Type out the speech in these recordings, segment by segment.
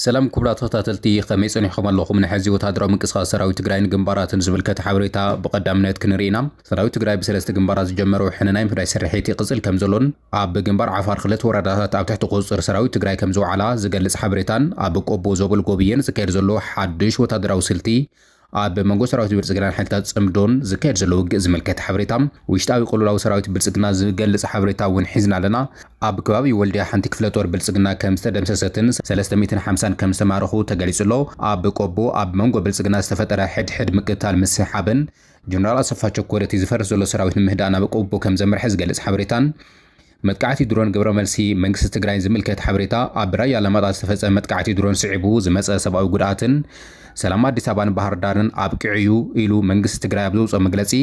ሰላም ኩቡራት ተኸታተልቲ ከመይ ጸኒሕኹም ኣለኹም ናይ ሐዚ ወታደራዊ ምንቅስቃስ ሰራዊት ትግራይን ግንባራትን ዝምልከት ሓበሬታ ብቀዳምነት ክንርኢ ኢና ሰራዊት ትግራይ ብሰለስተ ግንባራት ዝጀመሮ ውሕነ ናይ ምፍዳይ ስርሒት ይቅጽል ከምዘሎን ኣብ ግንባር ዓፋር ክልተ ወረዳታት ኣብ ትሕቲ ቁጽጽር ሰራዊት ትግራይ ከምዝወዓላ ዝገልጽ ሓበሬታን ኣብ ቆቦ ዞብል ጎብየን ዝካየድ ዘሎ ሓድሽ ወታደራዊ ስልቲ ኣብ መንጎ ሰራዊት ብልፅግናን ሓይልታት ፅምዶን ዝካየድ ዘሎ ውግእ ዝምልከት ሓበሬታ፣ ውሽጣዊ ቅልውላው ሰራዊት ብልፅግና ዝገልፅ ሓበሬታ እውን ሒዝና ኣለና። ኣብ ከባቢ ወልድያ ሓንቲ ክፍለ ጦር ብልፅግና ከም ዝተደምሰሰትን ሰለስተ ሚእትን ሓምሳን ከም ዝተማረኹ ተገሊፁ ኣሎ። ኣብ ቆቦ ኣብ መንጎ ብልፅግና ዝተፈጠረ ሕድሕድ ምቅትታል ምስ ሓበን፣ ጀነራል ኣሰፋ ቸኮል እቲ ዝፈርስ ዘሎ ሰራዊት ንምህዳእ ናብ ቆቦ ከም ዘምርሐ ዝገልፅ ሓበሬታን፣ መጥቃዕቲ ድሮን ግብረ መልሲ መንግስቲ ትግራይ ዝምልከት ሓበሬታ ኣብ ራያ ኣላማጣ ዝተፈፀመ መጥቃዕቲ ድሮን ስዒቡ ዝመፀ ሰብኣዊ ጉድኣትን ሰላም ኣዲስ ኣበባን ባህርዳርን ኣብቂዑ እዩ ኢሉ መንግስቲ ትግራይ ኣብ ዘውፅኦ መግለፂ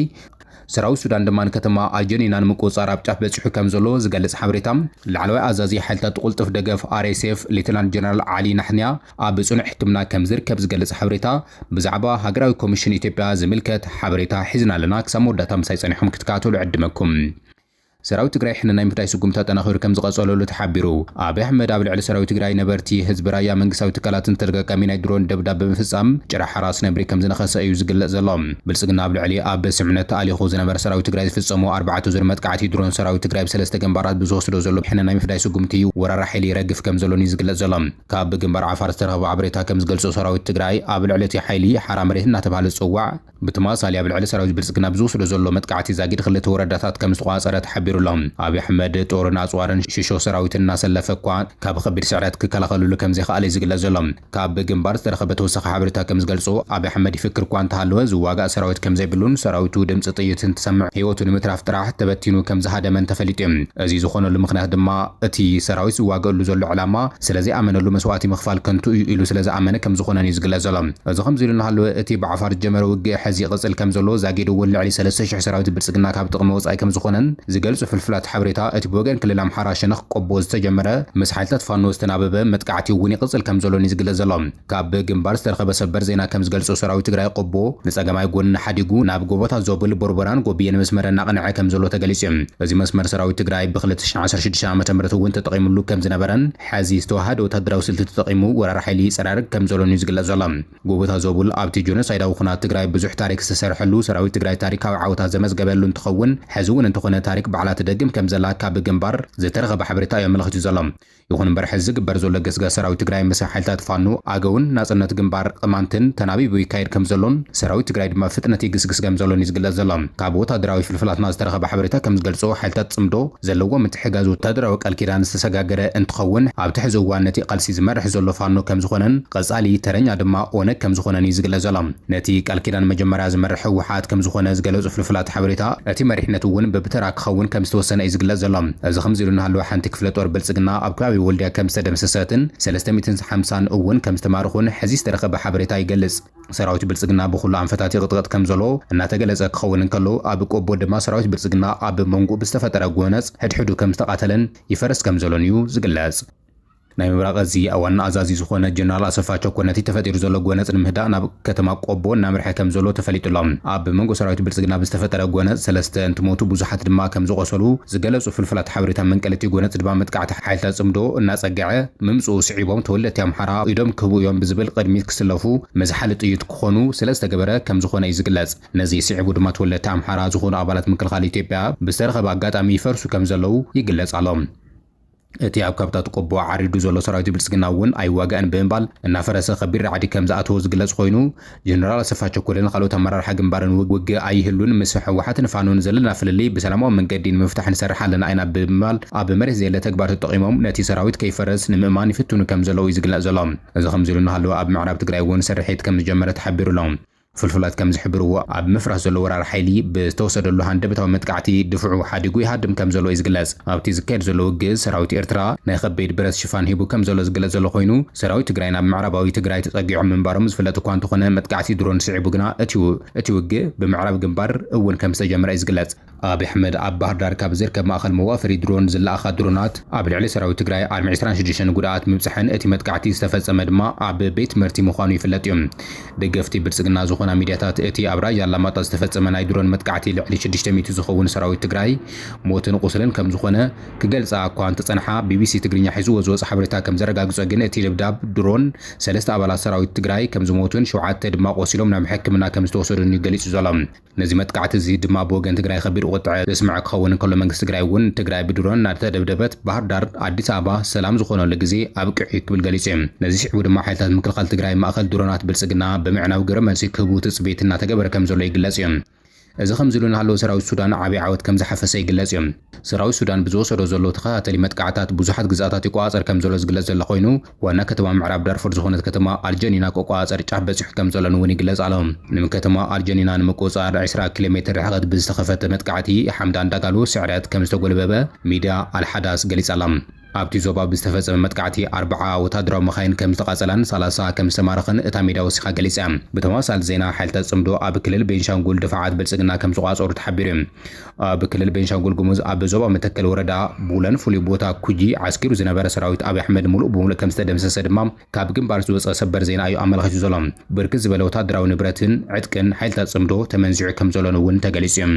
ሰራዊት ሱዳን ድማ ንከተማ ኣልጀኒና ንምቁፅፃር ኣብ ጫፍ በፂሑ ከም ዘሎ ዝገልፅ ሓበሬታ ላዕለዋይ ኣዛዚ ሓይልታት ቁልጡፍ ደገፍ RSF ሌተናል ጀነራል ዓሊ ናሕንያ ኣብ ፅኑዕ ሕክምና ከም ዝርከብ ዝገልፅ ሓበሬታ ብዛዕባ ሃገራዊ ኮሚሽን ኢትዮጵያ ዝምልከት ሓበሬታ ሒዝና ኣለና ክሳብ መወዳእታ ምሳይ ፀኒሖም ክትከታተሉ ዕድመኩም ሰራዊት ትግራይ ሕነ ናይ ምፍዳይ ስጉምቲ ኣጠናኺሩ ከምዝቐፀለሉ ተሓቢሩ። ኣብይ ኣሕመድ ኣብ ልዕሊ ሰራዊት ትግራይ፣ ነበርቲ፣ ህዝቢ ራያ፣ መንግስታዊ ትካላትን ተደጋጋሚ ናይ ድሮን ደብዳብ ብምፍፃም ጭራ ሓራስ ነብሪ ከምዝነኸሰ እዩ ዝግለፅ ዘሎ። ብልፅግና ኣብ ልዕሊ ኣብ ስምምዕነት ተኣሊኹ ዝነበረ ሰራዊት ትግራይ ዝፍፀሞ ኣርባዕተ ዙር መጥቃዕቲ ድሮን ሰራዊት ትግራይ ብሰለስተ ግንባራት ብዝወስዶ ዘሎ ሕነ ናይ ምፍዳይ ስጉምቲ ወራሪ ሓይሊ ይረግፍ ከምዘሎን እዩ ዝግለፅ ዘሎ። ካብ ግንባር ዓፋር ዝተረኸቡ ሓበሬታ ከምዝገልፆ ሰራዊት ትግራይ ኣብ ልዕሊ እቲ ሓይሊ ሓራ መሬት እናተብሃለ ዝፅዋዕ ብትማሳሊ ኣብ ልዕሊ ሰራዊት ብልፅግና ብዝወስዶ ዘሎ መጥቃዕቲ ዛጊድ ኽልተ ወረዳታት ከምዝተቖፃፀረ ተሓቢሩ ኣሎ። ኣብይ ኣሕመድ ጦርን ኣፅዋርን ሽሾ ሰራዊትን እናሰለፈ እኳ ካብ ኸቢድ ስዕረት ክከላኸልሉ ከምዘይኸኣለ እዩ ዝግለፅ ዘሎ። ካብ ግንባር ዝተረኸበ ተወሳኺ ሓበሬታ ከምዝገልፆ ኣብይ ኣሕመድ ይፍክር እኳ እንተሃለወ ዝዋጋእ ሰራዊት ከምዘይብሉን ሰራዊቱ ድምፂ ጥይት እንትሰምዕ ህይወቱ ንምትራፍ ጥራሕ ተበቲኑ ከምዝሃደመን ተፈሊጡ እዩ። እዙይ ዝኾነሉ ምኽንያት ድማ እቲ ሰራዊት ዝዋገኣሉ ዘሎ ዕላማ ስለ ዘይኣመነሉ መስዋእቲ ምኽፋል ከንቱ እዩ ኢሉ ስለ ዝኣመነ ከም ዝኾነን እዩ ዝግለጽ ዘሎ። እዚ ከምዚ ኢሉ እናሃለወ እቲ ብዓፋር ዝጀመረ ውግእ ሐዚ ይቕጽል ከም ዘሎ ዛጊድ እውን ልዕሊ ሰለስተ ሽሕ ሰራዊት ብልጽግና ካብ ጥቕሚ ወጻኢ ከም ዝኾነን ዝገልጹ ፍልፍላት ሓበሬታ እቲ ብወገን ክልል ኣምሓራ ሸነኽ ቆቦ ዝተጀመረ ምስ ሓይልታት ፋኖ ዝተናበበ መጥቃዕቲ እውን ይቕጽል ከም ዘሎን እዩ ዝግለጽ ዘሎ። ካብ ግንባር ዝተረኸበ ሰበር ዜና ከምዝገልፆ ሰራዊት ትግራይ ቆቦ ንፀገማይ ጎኒ ሓዲጉ ናብ ጎቦታት ዞብል፣ ቦርቦራን ጎብየን መስመር እናቐነዐ ከምዘሎ ተገሊፁ ዩ። እዚ መስመር ሰራዊት ትግራይ ብ ክልተ ሽሕን ዓሰርተ ሽዱሽተን ዓመተ ምህረት ውን ተጠቒምሉ ከምዝነበረን ሐዚ ዝተወሃሃደ ወታደራዊ ስልቲ ተጠቒሙ ወራሪ ሓይሊ ይፀራርግ ከምዘሎን ዩ ዝግለፅ ዘሎ። ጎቦታት ዞብል ኣብቲ ጆኖሳይዳዊ ኹናት ትግራይ ብዙሕ ታሪክ ዝተሰርሐሉ፣ ሰራዊት ትግራይ ታሪካዊ ዓወታት ዘመዝገበሉ እንትኸውን ሐዚ ውን እንተኾነ ታሪክ ባዕላ ትደግም ከምዘላ ካብ ግንባር ዝተረኸበ ሓበሬታ ዩ ኣመላኺቱ ዘሎ። ይኹን እምበር ሕዚ ዝግበር ዘሎ ገስጋስ ሰራዊት ትግራይ ምስ ሓይልታት ፋኖ፣ ኣገውን ናጽነት ግንባር ቕማንትን ተናቢቡ ይካየድ ከምዘሎን ሰራዊት ትግራይ ድማ ብፍጥነት ይግስግስ ከምዘሎን እዩ ዝግለጽ ዘሎ። ካብ ወታደራዊ ፍልፍላትና ዝተረኸበ ሓበሬታ ከምዝገልጾ ሓይልታት ጽምዶ ዘለዎ ምትሕጋዝ ወታደራዊ ቃል ኪዳን ዝተሰጋገረ እንትኸውን ኣብቲ ሕዚ እዋን ነቲ ቓልሲ ዝመርሕ ዘሎ ፋኖ ከምዝኾነን ቐጻሊ ተረኛ ድማ ኦነግ ከምዝኾነን እዩ ዝግለጽ ዘሎ። ነቲ ቃል ኪዳን መጀመርያ ዝመርሕ ህወሓት ከምዝኾነ ዝገለፁ ፍልፍላት ሓበሬታ፣ እቲ መሪሕነት እውን ብብተራ ክኸውን ከምዝተወሰነ እዩ ዝግለፅ ዘሎ። እዚ ከምዚ ኢሉ እናሃለወ ሓንቲ ክፍለ ጦር ብልፅግና ኣብ ከባቢ ወልድያ ከምዝተደምሰሰትን ሰለስተ ሚእትን ሓምሳን እውን ከምዝተማረኹን ሕዚ ዝተረኸበ ሓበሬታ ይገልፅ። ሰራዊት ብልፅግና ብኹሉ ኣንፈታት ይቕጥቐጥ ከምዘሎ እናተገለፀ ክኸውን እንከሎ ኣብ ቆቦ ድማ ሰራዊት ብልፅግና ኣብ መንጉኡ ብዝተፈጠረ ጎነፅ ሕድሕዱ ከምዝተቓተለን ይፈርስ ከምዘሎን እዩ ዝግለፅ። ናይ ምብራቕ እዚ ዋና ኣዛዚ ዝኾነ ጀነራል ኣሰፋ ቸኮ ነቲ ተፈጢሩ ዘሎ ጎነጽ ንምህዳእ ናብ ከተማ ቆቦ እናምርሐ ከምዘሎ ተፈሊጡ'ሎ። ኣብ መንጎ ሰራዊት ብልጽግና ብዝተፈጠረ ጎነጽ ሰለስተ እንትሞቱ ብዙሓት ድማ ከምዝቖሰሉ ዝገለጹ ፍልፍላት ሓበሬታ መንቀሊ'ቲ ጎነጽ ድማ መጥቃዕቲ ሓይልታት ጽምዶ እናጸገዐ ምምጽኡ ስዒቦም ተወለድቲ ኣምሓራ ኢዶም ክህቡ እዮም ብዝብል ቕድሚት ክስለፉ መዝሓሊ ጥይት ክኾኑ ስለዝተገበረ ከምዝኾነ እዩ ዝግለጽ። ነዚ ስዒቡ ድማ ተወለድቲ ኣምሓራ ዝኾኑ ኣባላት ምክልኻል ኢትዮጵያ ብዝተረኸበ ኣጋጣሚ ይፈርሱ ከምዘለዉ ይግለጽ ኣሎ። እቲ ኣብ ካብታት ቆቦ ዓሪዱ ዘሎ ሰራዊት ብልፅግና እውን ኣይዋጋእን ብምባል እናፈረሰ ከቢድ ራዕዲ ከምዝኣተዎ ዝግለፅ ኾይኑ ጀነራል ኣሰፋ ቸኮልን ኻልኦት ኣመራርሓ ግንባርን ውግእ ኣይህሉን ምስ ህወሓትን ፋኖን ዘለና ፍልልይ ብሰላማዊ መንገዲ ንምፍታሕ ንሰርሕ ኣለና ኢና ብምባል ኣብ መሬት ዘየለ ተግባር ተጠቒሞም ነቲ ሰራዊት ከይፈርስ ንምእማን ይፍትኑ ከምዘለዉ እዩ ዝግለፅ ዘሎ። እዚ ከምዚሉ እናሃለወ ኣብ ምዕራብ ትግራይ እውን ስርሒት ከምዝጀመረ ተሓቢሩ ኣሎ። ፍልፍላት ከም ዝሕብርዎ፣ ኣብ ምፍራስ ዘሎ ወራር ሓይሊ፣ ብዝተወሰደሉ ሃንደበታዊ መጥቃዕቲ ድፍዑ ሓዲጉ ይሃድም ከም ዘሎ እዩ ዝግለጽ። ኣብ'ቲ ዝካየድ ዘሎ ውግእ፣ ሰራዊት ኤርትራ ናይ ከበይድ ብረት ሽፋን ሂቡ ከም ዘሎ ዝግለጽ ዘሎ ኮይኑ፣ ሰራዊት ትግራይ ናብ ምዕራባዊ ትግራይ ተጸጊዖም ምንባሮም ዝፍለጥ እኳ እንተኾነ፣ መጥቃዕቲ ድሮን ስዒቡ ግና እቲ እቲ ውግእ ብምዕራብ ግንባር እውን ከም ዝተጀመረ እዩ ዝግለጽ። ኣብይ ኣሕመድ ኣብ ባህርዳር ካብ ዝርከብ ማእኸል መዋፈሪ ድሮን ዝለኣኻ ድሮናት ኣብ ልዕሊ ሰራዊት ትግራይ ዓርሚ ዕስራን ሽዱሽተን ጉድኣት ምብፀሐን እቲ መጥቃዕቲ ዝተፈፀመ ድማ ኣብ ቤት ትምህርቲ ምዃኑ ይፍለጥ እዩ። ደገፍቲ ብልፅግና ዝኾና ሚድያታት እቲ ኣብ ራያ ኣላማጣ ዝተፈፀመ ናይ ድሮን መጥቃዕቲ ልዕሊ ሽዱሽተ ሚእቲ ዝኸውን ሰራዊት ትግራይ ሞትን ቑስልን ከምዝኾነ ክገልፃ እኳ እንተፀንሓ ቢቢሲ ትግርኛ ሒዝዎ ዝወፅ ሓበሬታ ከምዘረጋግፆ ግን እቲ ደብዳብ ድሮን ሰለስተ ኣባላት ሰራዊት ትግራይ ከምዝሞቱን ሸውዓተ ድማ ቆሲሎም ናብ ሕክምና ከምዝተወሰዱን እዩ ገሊፁ ዘሎ። ነዚ መጥቃዕቲ እዚ ድማ ብወገን ትግራይ ከቢድ ቁጥዐ ዘስመዐ ክኸውን እንከሎ መንግስቲ ትግራይ እውን ትግራይ ብድሮን እናተደብደበት ባህርዳር፣ ኣዲስ ኣበባ ሰላም ዝኾነሉ ግዜ ኣብቂዑ እዩ ክብል ገሊፁ እዩ። ነዚ ስዒቡ ድማ ሓይልታት ምክልኻል ትግራይ ማእኸል ድሮናት ብልፅግና ብምዕናው ግብረ መልሲ ክህቡ ትፅቢት እናተገበረ ከምዘሎ ይግለፅ እዩ። እዚ ከምዚ ኢሉ እናሃለወ ሰራዊት ሱዳን ዓብይ ዓወት ከምዝሓፈሰ ይግለፅ እዩ። ሰራዊት ሱዳን ብዝወሰዶ ዘሎ ተኸታተሊ መጥቃዕትታት ብዙሓት ግዝኣታት ይቆፃፀር ከምዘሎ ዝግለፅ ዘሎ ኮይኑ፣ ዋና ከተማ ምዕራብ ዳርፉር ዝኾነት ከተማ ኣልጀኒና ክቆፃፀር ጫፍ በፂሑ ከምዘሎን እውን ይግለፅ ኣሎ። ንከተማ ኣልጀኒና ንምቁፅፃር ዕስራ ኪሎ ሜትር ርሕቐት ብዝተኸፈተ መጥቃዕቲ ሓምዳን ዳጋሎ ስዕረት ከምዝተጎልበበ ሚድያ ኣልሓዳስ ገሊፃ'ላ። ኣብቲ ዞባ ብዝተፈፀመ መጥቃዕቲ ኣርብዓ ወታደራዊ መኻይን ከምዝተቓፀላን ሰላሳ ከምዝተማረኸን እታ ሚድያ ወሲኻ ገሊፃ'ያ። ብተመሳሳሊ ዜና ሓይልታት ፅምዶ ኣብ ክልል ቤንሻንጉል ድፋዓት ብልፅግና ከምዝቋፀሩ ተሓቢሩ'ዩ። ኣብ ክልል ቤንሻንጉል ጉሙዝ ኣብ ዞባ መተከል ወረዳ ቡለን ፍሉይ ቦታ ኩጂ ዓስኪሩ ዝነበረ ሰራዊት ኣብይ ኣሕመድ ሙሉእ ብምሉእ ከም ዝተደምሰሰ ድማ ካብ ግንባር ዝወፀ ሰበር ዜና እዩ ኣመላኺቱ ዘሎ። ብርክት ዝበለ ወታደራዊ ንብረትን ዕጥቅን ሓይልታት ፅምዶ ተመንዚዑ ከም ዘሎን እውን ተገሊፁ እዩ።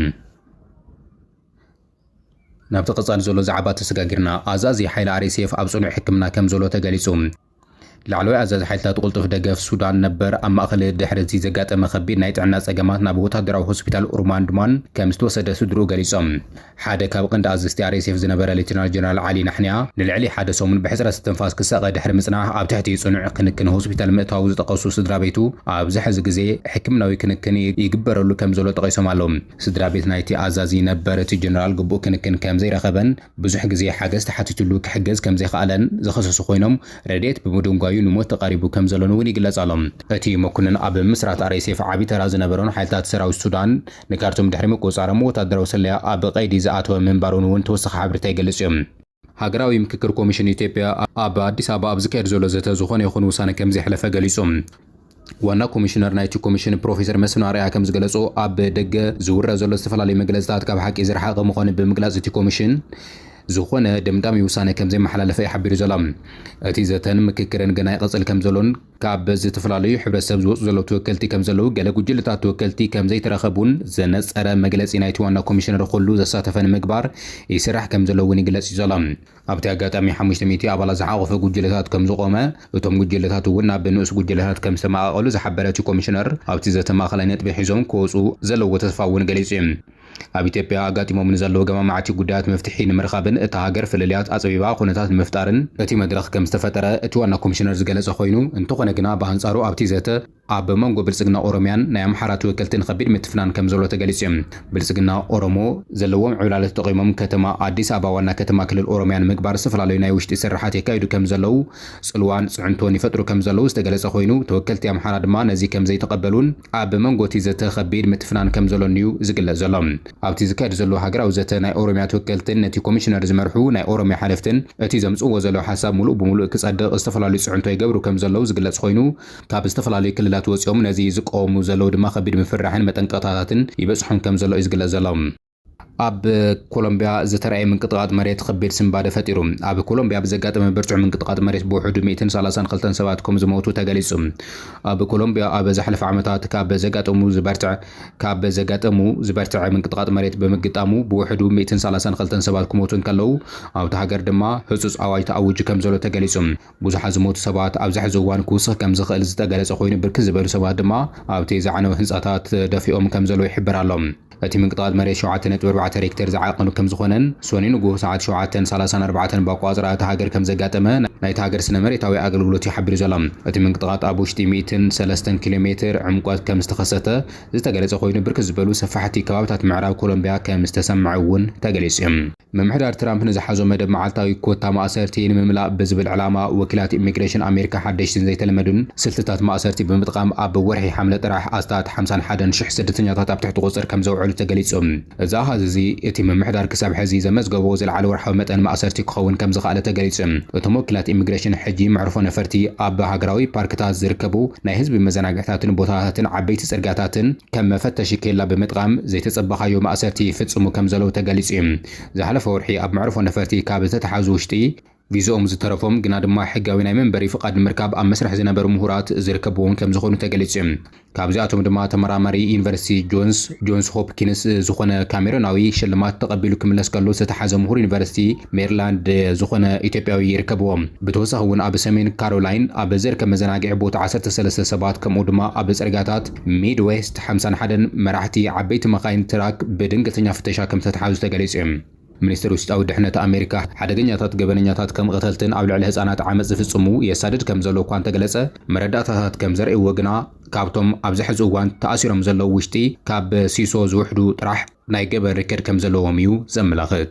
ናብቲ ቀፃሊ ዘሎ ዛዕባ ተሰጋጊርና ኣዛዚ ሓይሊ RSF ኣብ ፅኑዕ ሕክምና ከም ዘሎ ተገሊፁ። ላዕለዋይ ኣዛዚ ሓይልታት ቁልጡፍ ደገፍ ሱዳን ነበር፣ ኣብ ማእከል ድሕሪ እዚ ዘጋጠመ ከቢድ ናይ ጥዕና ጸገማት ናብ ወተሃደራዊ ሆስፒታል ኡርማንድማን ከም ዝተወሰደ ስድርኡ ገሊጾም። ሓደ ካብ ቐንዲ ኣዘዝቲ ኣርኤስኤፍ ዝነበረ ሌተናል ጀነራል ዓሊ ናሕንያ፣ ንልዕሊ ሓደ ሰሙን ብሕጽረት እስትንፋስ ክሳቐ ድሕሪ ምጽናሕ ኣብ ትሕቲ ጽኑዕ ክንክን ሆስፒታል ምእታዉ ዝጠቐሱ ስድራቤቱ፣ ኣብዚ ሕዚ ግዜ ሕክምናዊ ክንክን ይግበረሉ ከም ዘሎ ጠቒሶም ኣለዉ። ስድራቤት ናይቲ ኣዛዚ ነበር፣ እቲ ጀነራል ግቡእ ክንክን ከም ዘይረኸበን፣ ብዙሕ ግዜ ሓገዝ ተሓቲቱሉ ክሕገዝ ከም ዘይኸኣለን ዝኸሰሱ ኮይኖም፣ ረድኤት ብምድንጓዩ ንሞት ተቓሪቡ ከም ዘሎን'ውን ይግለጽ ኣሎ። እቲ መኩንን ኣብ ምስራት RSF ዓቢ ተራ ዝነበሮን ሓይልታት ሰራዊት ሱዳን ንካርቱም ድሕሪ ምቁጽጻሮም ወተሃደራዊ ስለያ ኣብ ቐይዲ ዝኣተወ ምንባሩን'ውን ተወሳኺ ሓበሬታ ይገልጽ እዩ። ሃገራዊ ምክክር ኮሚሽን ኢትዮጵያ ኣብ ኣዲስ ኣበባ ኣብ ዝካየድ ዘሎ ዘተ ዝኾነ ይኹን ውሳነ ከም ዘየሕለፈ ገሊጹ። ዋና ኮሚሽነር ናይቲ ኮሚሽን ፕሮፌሰር መስፍን ኣርኣያ ከምዝገለፆ ኣብ ደገ ዝውረ ዘሎ ዝተፈላለዩ መግለፅታት ካብ ሓቂ ዝረሓቐ ምዃኑ ብምግላፅ እቲ ኮሚሽን ዝኾነ ደምዳሚ ውሳነ ከምዘይመሓላለፈ እዩ ሓቢሩ ዘሎ። እቲ ዘተን ምክክርን ገና ይቐፅል ከምዘሎን ካብ ዝተፈላለዩ ሕብረተሰብ ዝወፁ ዘለዉ ተወከልቲ ከምዘለዉ ገለ ጉጅለታት ተወከልቲ ከምዘይተረኸቡን ዘነፀረ መግለፂ ናይቲ ዋና ኮሚሽነር ኹሉ ዘሳተፈ ንምግባር ይስራሕ ከምዘሎ እውን ይግለፅ እዩ ዘሎ። ኣብቲ ኣጋጣሚ ሓሙሽተ ሚእቲ ኣባላት ዝሓቖፈ ጉጅለታት ከምዝቖመ፣ እቶም ጉጅለታት እውን ናብ ንኡስ ጉጅለታት ከምዝተመቓቐሉ ዝሓበረ እቲ ኮሚሽነር፣ ኣብቲ ዘተ ማእኸላይ ነጥቢ ሒዞም ክወፁ ዘለዎ ተስፋ እውን ገሊፁ እዩ። ኣብ ኢትዮጵያ ኣጋጢሞም ንዘለዉ ገማማዕቲ ጉዳያት መፍትሒ ንምርኻብን እታ ሃገር ፍልልያት ኣፅቢባ ኩነታት ንምፍጣርን እቲ መድረኽ ከምዝተፈጠረ እቲ ዋና ኮሚሽነር ዝገለፀ ኮይኑ፣ እንተኾነ ግና ብኣንፃሩ ኣብቲ ዘተ፣ ኣብ መንጎ ብልጽግና ኦሮሚያን ናይ ኣምሓራ ተወከልትን ኸቢድ ምትፍናን ከምዘሎ ተገሊጹ። ብልጽግና ኦሮሞ ዘለዎም ዕብላለ ተጠቒሞም ከተማ ኣዲስ ኣበባ ዋና ከተማ ክልል ኦሮሚያ ንምግባር ዝተፈላለዩ ናይ ውሽጢ ስርሓት የካይዱ ከምዘለው ጽልዋን ጽዕንቶን ይፈጥሩ ከምዘለው ዝተገለጸ ኾይኑ ተወከልቲ ኣምሓራ ድማ ነዚ ከምዘይተቐበሉን ኣብ መንጎቲ ዘተ ኸቢድ ምትፍናን ከምዘሎንዩ ዝግለጽ ዘሎ። ኣብቲ ዝካየድ ዘሎ ሃገራዊ ዘተ ናይ ኦሮሚያ ተወከልትን ነቲ ኮሚሽነር ዝመርሑ ናይ ኦሮሚያ ሓለፍትን እቲ ዘምጽእዎ ዘለው ሓሳብ ሙሉእ ብሙሉእ ክጸድቕ ዝተፈላለዩ ጽዕንቶ ይገብሩ ከምዘለው ዝግለጽ ኾይኑ ካብ ዝተፈላለዩ ክልላት ወጺኦም ነዚ ዝቀወሙ ዘለዉ ድማ ከቢድ ምፍርራሕን መጠንቀቕታታትን ይበጽሖም ከም ዘሎ እዩ ዝግለጽ ዘሎ። ኣብ ኮሎምብያ ዝተራእየ ምንቅጥቓጥ መሬት ኸቢድ ስንባደ ፈጢሩ። ኣብ ኮሎምብያ ብዘጋጠመ ብርቱዕ ምንቅጥቓጥ መሬት ብውሕዱ ሚእትን ሰላሳን ኽልተን ሰባት ከም ዝሞቱ ተገሊጹ። ኣብ ኮሎምብያ ኣብ ዝሓለፈ ዓመታት ካብ ዘጋጠሙ ዝበርትዐ ካብ ዘጋጠሙ ዝበርትዐ ምንቅጥቓጥ መሬት ብምግጣሙ ብውሕዱ ሚእትን ሰላሳን ኽልተን ሰባት ክሞቱ እንከለዉ ኣብታ ሃገር ድማ ህጹጽ ኣዋጅ ተኣዊጁ ከም ዘሎ ተገሊጹ። ብዙሓት ዝሞቱ ሰባት ኣብዚ ሕዚ እዋን ክውስኽ ከም ዝኽእል ዝተገለጸ ኮይኑ፣ ብርክት ዝበሉ ሰባት ድማ ኣብቲ ዝዓነወ ህንጻታት ተደፊኦም ከም ዘለዉ ይሕበር ኣሎ። እቲ ምንቅጥቓጥ መሬት ሸውዓተ ነጥቢ ኣርባዕተ ሬክተር ዝዓቐኑ ከም ዝኾነን ሰኑይ ንጉሆ ሰዓት ሸውዓተን ሰላሳን ኣርባዕተን ብኣቆጻጽራ እታ ሃገር ከም ዘጋጠመ ናይታ ሃገር ስነ መሬታዊ ኣገልግሎት እዩ ሓቢሩ ዘሎ። እቲ ምንቅጥቓጥ ኣብ ውሽጢ ሚእትን ሰለስተን ኪሎ ሜትር ዕምቆት ከም ዝተኸሰተ ዝተገለጸ ኮይኑ፣ ብርክት ዝበሉ ሰፋሕቲ ከባብታት ምዕራብ ኮሎምብያ ከም ዝተሰምዐ እውን ተገሊጹ እዩ። ምምሕዳር ትራምፕ ንዝሓዞ መደብ መዓልታዊ ኮታ ማእሰርቲ ንምምላእ ብዝብል ዕላማ፣ ወኪላት ኢሚግሬሽን ኣሜሪካ ሓደሽቲን ዘይተለመዱን ስልትታት ማእሰርቲ ብምጥቓም ኣብ ወርሒ ሓምለ ጥራሕ ኣስታት ሓምሳን ሓደን ሽሕ ስደተኛታት ኣብ ትሕቲ ቁጽሪ ከም ዘውዐሉ ተገሊጹ። እዚ ኣሃዝ እዚ እቲ ምምሕዳር ክሳብ ሕዚ ዘመዝገቦ ዝለዓለ ወርሓዊ መጠን ማእሰርቲ ክኸውን ከም ዝኸኣለ ተገሊጹ። እቶም ወኪላት ኢሚግሬሽን ሕጂ መዕርፎ ነፈርቲ፣ ኣብ ሃገራዊ ፓርክታት ዝርከቡ ናይ ህዝቢ መዘናግዕታትን ቦታታትን ዓበይቲ ጽርግያታትን፣ ከም መፈተሺ ኬላ ብምጥቓም ዘይተጸበኻዮ ማእሰርቲ ይፍጽሙ ከም ዘለዉ ተገሊጹ እዩ። ዝሓለፈ ወርሒ ኣብ መዕርፎ ነፈርቲ ካብ ዝተተሓዙ ውሽጢ፣ ቪዝኦም ዝተረፎም ግና ድማ ሕጋዊ ናይ መንበሪ ፍቓድ ንምርካብ ኣብ መስርሕ ዝነበሩ ምሁራት ዝርከብዎም ከም ዝኾኑ ተገሊጹ እዩ። ካብዚኣቶም ድማ ተመራማሪ ዩኒቨርሲቲ ጆንስ ጆንስ ሆፕኪንስ ዝኾነ ካሜሮናዊ ሽልማት ተቐቢሉ ክምለስ ከሎ ዝተተሓዘ ምሁር ዩኒቨርሲቲ ሜሪላንድ ዝኾነ ኢትዮጵያዊ ይርከብዎም። ብተወሳኺ እውን ኣብ ሰሜን ካሮላይን ኣብ ዝርከብ መዘናግዒ ቦታ ዓሰርተ ሰለስተ ሰባት ከምኡ ድማ ኣብ ጽርግያታት ሚድዌስት ሓምሳን ሓደን መራሕቲ ዓበይቲ መካይን ትራክ ብድንገተኛ ፍተሻ ከም ዝተትሓዙ ተገሊጹ እዩ። ሚኒስተር ውሽጣዊ ድሕነት ኣሜሪካ፣ ሓደገኛታት ገበነኛታት ከም ቐተልትን ኣብ ልዕሊ ህጻናት ዓመጽ ዝፍጽሙ የሳድድ ከም ዘሎ እኳ እንተገለጸ፣ መረዳእታታት ከም ዘርእይዎ ግና ካብቶም ኣብዚ ሕዚ እዋን ተኣሲሮም ዘለዉ ውሽጢ ካብ ሲሶ ዝውሕዱ ጥራሕ ናይ ገበን ሪከድ ከም ዘለዎም እዩ ዘመላኽት።